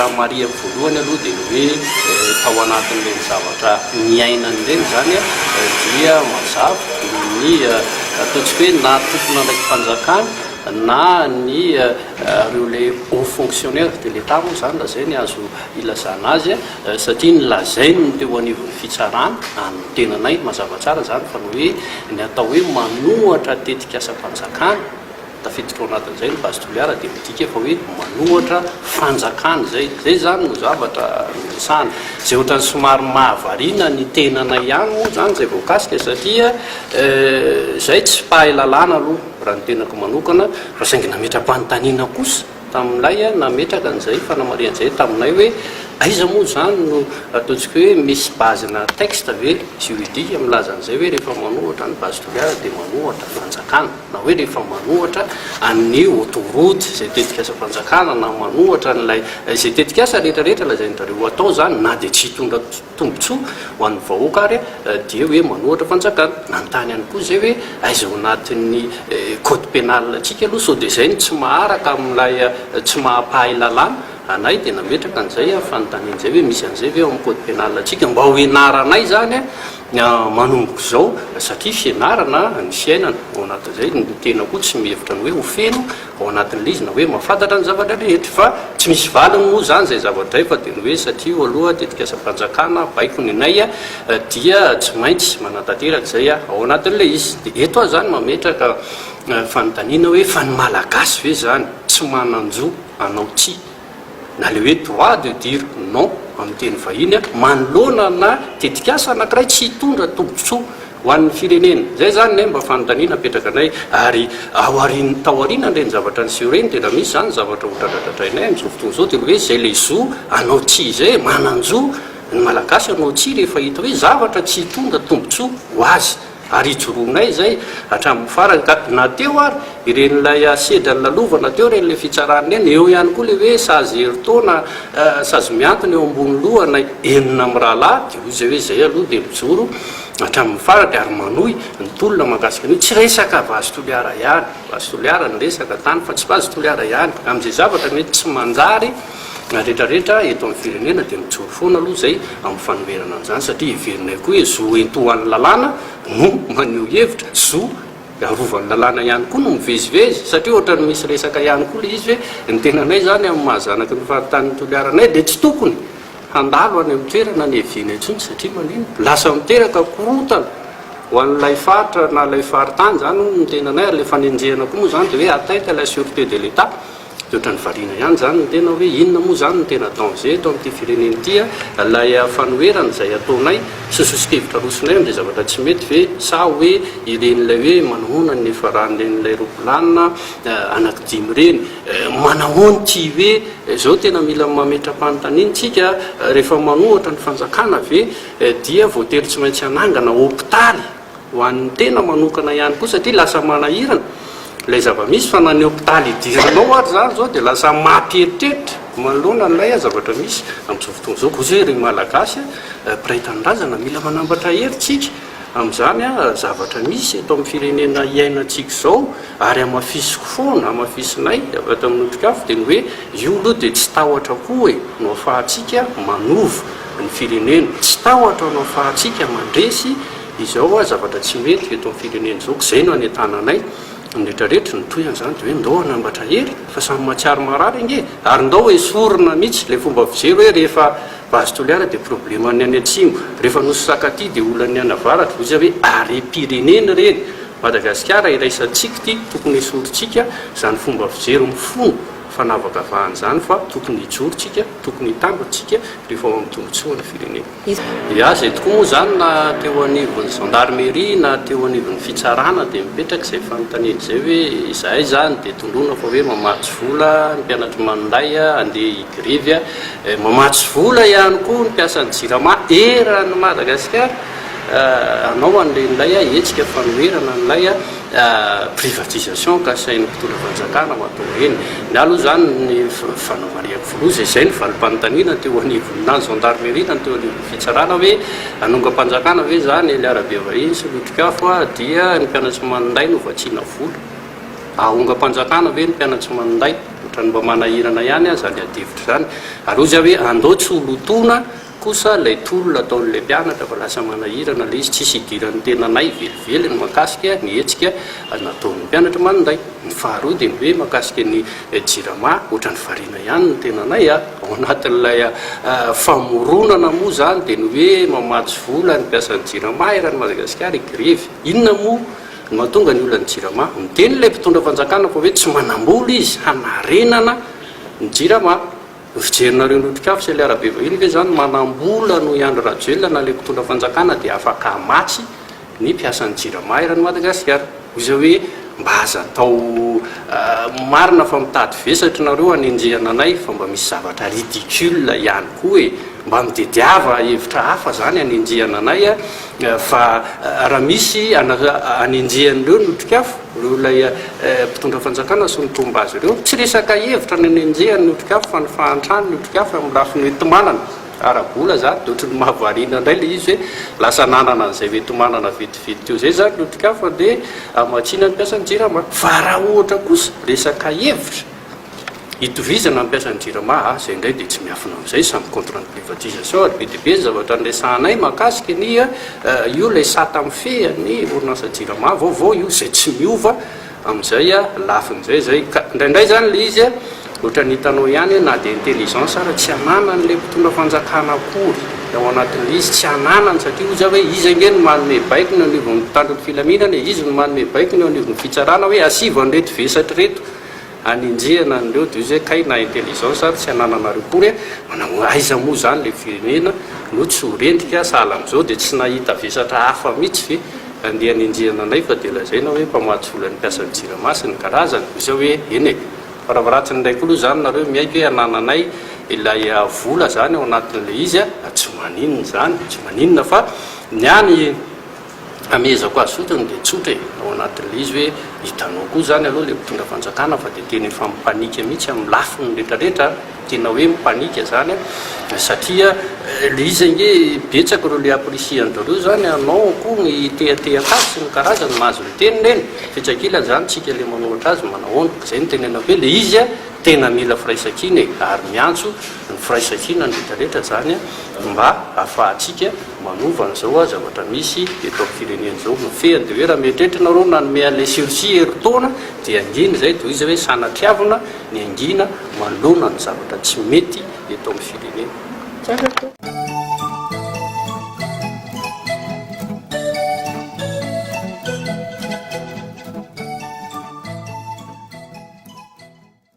Raha marihako voalohany aloha dia ny hoe tao anatin'ireny zavatra niainany ireny izany dia mazava noho ny ataontsika hoe na tompon'andraiki-panjakana na ny ireo ilay haut fonctionnaire de l'Etat moa izany raha izay ny azo ilazana azy satria ny lazainy ny teo anivon'ny fitsarana any ny tenanay mazava tsara izany fa ny hoe ny atao hoe manohatra tetikasam-panjakana Tafiditra ao anatin'izay ny base Toliara dia midika fa hoe manohatra fanjakana izay. Izay izany no zavatra niresahana. Izay ohatran'ny somary mahavariana ny tenanay ihany moa izany izay voakasika satria izahay tsy mpahay lalàna aloha raha ny tenako manokana fa saingy nametra-panontaniana kosa tamin'ilay nametraka an'izay fanamarihana izay taminay hoe aiza moa izany no ataontsika hoe misy base-na texte ve juridique milaza an'izay hoe rehefa manohatra ny base Toliara dia manohatra fanjakana. na hoe rehefa manohatra an'ny autoroute izay tetikasam-panjakana na manohatra an'ilay izay tetikasa rehetra rehetra lazain-dry zareo atao izany na dia tsy hitondra tombontsoa ho an'ny vahoaka ary dia hoe manohatra fanjakana. Nanontany ihany koa izay hoe aiza ao anatin'ny code pénal antsika aloha sao dia izay no tsy maharaka amin'ilay tsy mahampahay lalàna anay dia nametraka an'izay fanontaniana izay hoe misy an'izay ve ao amin'ny code pénal antsika mba ho ianaranay izany Manomboka izao, satria fianarana ny fiainana, ao anatin'izay ny tena koa tsy mihevitra ny hoe ho feno ao anatin'ilay izy na hoe mahafantatra ny zavatra rehetra. Fa tsy misy valiny moa izany izay zavatra izay fa dia ny hoe satria io aloha tetikasam-panjakana, baiko ny nay, dia tsy maintsy manatanteraka izay ao anatin'ilay izy. Dia eto aho izany mametraka fanontaniana hoe fa ny Malagasy ve izany tsy manan-jo hanao tsia na ilay hoe droit de dire non amin'ny teny vahiny, manoloana ana tetikasa anankiray tsy hitondra tombotsoa ho an'ny firenena. Izay izany ny mba fanontaniana apetraka anay ary ao aorian'ny tao aorianan'ireny zavatra niseho ireny dia raha misy izany zavatra ho dradradradrainay amin'izao fotoana izao dia ny hoe izay ilay zo hanao tsia izay e! Manan-jo ny Malagasy hanao tsia rehefa hita hoe zavatra tsy hitondra tombotsoa ho azy. Ary ijoroanay izay hatramin'ny farany, ka na teo ary ireny ilay sedra nilalovana teo ireny ilay fitsarana ireny, eo ihany koa ilay hoe sazy herintaona, sazy mihantona eo ambony lohanay enina mirahalahy, dia hoy izay hoe izay aloha dia mijoro hatramin'ny farany ary manohy ny tolona mahakasika an'io, tsy resaka vazo Toliara ihany, vazo Toliara no resaka tany fa tsy vazo Toliara ihany, amin'izay zavatra mety tsy manjary. Na rehetra rehetra eto amin'ny firenena dia mijoro foana aloha izay amin'ny fanoherana an'izany satria heverinay koa hoe zo entohan'ny lalàna no maneho hevitra, zo arovan'ny lalàna ihany koa no mivezivezy satria ohatran'ny misy resaka ihany koa ilay izy hoe ny tenanay izany amin'ny maha zanaky ny faritany Toliara anay dia tsy tokony handalo any amin'ny toerana any Eviana intsony satria manino? Lasa miteraka korontana ho an'ilay faritra na ilay faritany izany hono ny tenanay ary ilay fanenjehana koa moa izany dia hoe atteinte à la sûreté de l'Etat. Dia ohatran'ny variana ihany izany ny tena hoe inona moa izany no tena danger eto amin'ity firenena ity a? Ilay fanoherana izay ataonay sy soso-kevitra arosonay amin'izay zavatra tsy mety ve? Sa hoe ireny ilay hoe manahoana ny nifaran'ilay ropilanina anaky dimy ireny? Manahoana ity hoe izao tena mila mametra-panontaniana tsika rehefa manohatra ny fanjakana ve dia voatery tsy maintsy hanangana hopitaly? ho an'ny tena manokana ihany koa satria lasa manahirana ilay zava-misy fa na ny hopitaly idiranao ary izany izao dia lasa mampieritreritra manoloana an'ilay zavatra misy amin'izao fotoana izao. Koa izay ry Malagasy mpiray tanindrazana mila manambatra hery tsika amin'izany zavatra misy eto amin'ny firenena iainantsika izao ary hamafisiko foana, hamafisinay avy ato amin'ny Otrikafo dia ny hoe io aloha dia tsy tahotra koa e, no afahantsika manova ny firenena. Tsy tahotra anao fa atsika mandresy izao hoa zavatra tsy mety eto amin'ny firenena izao, k'izay no anentananay ny rehetra rehetra, ny tohiny izany dia hoe ndao hanambatra hery fa samy mahatsiaro marary ange, ary ndao esorina mihitsy ilay fomba fijery hoe rehefa base Toliara dia probleman'ny any atsimo, rehefa nosy Sakatia dia olan'ny any avaratra, hoy izy hoe harem-pirenena ireny, Madagasikara iraisantsika ity, tokony esorintsika izany fomba fijery mifono. fanavakavahan'izany fa tokony hijoro tsika, tokony hitandro tsika rehefa ho amin'ny tombotsoa ny firenena. Dia azy eto koa moa izany na teo anivon'ny gendarmerie na teo anivon'ny fitsarana dia mipetraka izay fanontaniana izay hoe izahay izany dia tondroina fa hoe mamatsy vola ny mpianatry maninday handeha higrevy, mamatsy vola ihany koa ny mpiasan'ny jirama eran'ny Madagasikara hanao an'ilay ninday hetsika fanoherana an'ilay. privatisation kasain'ny mpitondra fanjakana mahatonga eny na aloha izany ny fanao mariaky filoha izay izay ny valim-panontaniana teo anivon'ny na ny gendarmerie na ny teo anivon'ny fitsarana hoe hanongam-panjakana ve izany eny Arabevahiny sy Lotrikafo a dia ny mpianatry maninday no vatsiana vola hahongam-panjakana ve ny mpianatry maninday ohatran'ny mba manahirana ihany aho izany adihevitra izany ary hoy za hoe andao tsy ho lotoina Kosa ilay tolona ataon'ilay mpianatra fa lasa manahirana ilay izy, tsisy idiran'ny tenanay velively ny mahakasika ny hetsika nataon'ny mpianatra maninday. Ny faharoa dia ny hoe mahakasika ny jirama, ohatran'ny variana ihany ny tenanay a! Ao anatin'ilay famoronana moa izany dia ny hoe mamatsy vola ny mpiasan'ny jirama eran'i Madagasikara higrevy. Inona moa no mahatonga ny olan'ny jirama? Miteny ilay mpitondra fanjakana fa hoe tsy manam-bola izy hanarenana ny jirama. Ny fijerinareo ny otrikafo sy ilay arabe vahiny ve izany manambola noho i Andry Rajoelina na ilay mpitondra fanjakana dia afaka hamatsy ny mpiasan'ny jirama eran'i Madagasikara? Hoy izao hoe mba aza atao marina fa mitady vesatry nareo hanenjehana anay fa mba misy zavatra ridicule ihany koa e! Mba mitediava hevitra hafa izany hanenjehana anay fa raha misy hanenjehan'ireo ny otrikafo Noho ilay mpitondra fanjakana sy ny mpomba azy ireo, tsy resaka hevitra ny hanenjehany ny otrikafo fa ny fahantrany ny otrikafo amin'ny lafiny hoenti-manana. Ara-bola izany dia ohatran'ny mahavariana indray ilay izy hoe lasa nanana an'izay hoenti-manana vetivety teo izay izany ny otrikafo handeha hamatsiana ny mpiasan'ny jirama. Fa raha ohatra kosa resaka hevitra? Itovizana mampiasa ny Jirama a, izay indray dia tsy miafina amin'izay, samy contre ny privatisation ary be dia be ny zavatra niresahanay mahakasika ny io ilay sata mifehy an'ny orinasa Jirama vaovao io izay tsy miova amin'izay lafiny izay izay ka indraindray izany ilay izy ohatran'ny hitanao ihany na dia intelligence ary tsy ananan'ilay mpitondra fanjakana akory ao anatin'ilay izy tsy ananany satria hoy za hoe izy ange no manome baiko ny anivon'ny mpitandro ny filaminana e, izy no manome baiko ny eo anivon'ny fitsarana hoe asivo an'ireto vesatra ireto Anenjehana an'ireo de ozy kay na intelligence ary tsy anananareo kory e, manao aiza moa zany le firenena no tsy ho rendrika, sahala amzao de tsy nahita vesatra hafa mitsy ve andeha anenjehana anay fa de lazaina oe mpamatsy vola ny mpiasan'ny jirama sy ny karazany, de zao oe eny e, faravaratsiny ndray koa lo zany nareo miaiky oe anananay ilay vola zany ao anatin'le izy a, tsy maninona zany, tsy maninona fa ny any Amehezako azy fotsiny dia tsotra e, ao anatin'ilay izy hoe hitanao koa izany aloha ilay mpitondra fanjakana fa dia tena efa mipanika mihitsy amin'ny lafiny retraretra an, tena hoe mipanika izany an, satria ilay izy ange betsaka ireo le appreciant-dreo izany an, anao akoho ny tehatehaka azy sy ny karazany, mahazo miteny neny, etsy ankilany izany tsika ilay manoratra azy manahoana, izay no tenenako hoe ilay izy an tena mila firaisankina e, ary miantso ny firaisankina ny retraretra izany an mba hahafahantsika manova an'izao a zavatra misy eto amin'ny firenena izao no fehiny dia hoe raha mieritreritra ianareo nanome an'ilay sursis herintaona dia angina izay tohizo hoe sanatriavina ny angina manoloana ny zavatra tsy mety eto amin'ny firenena.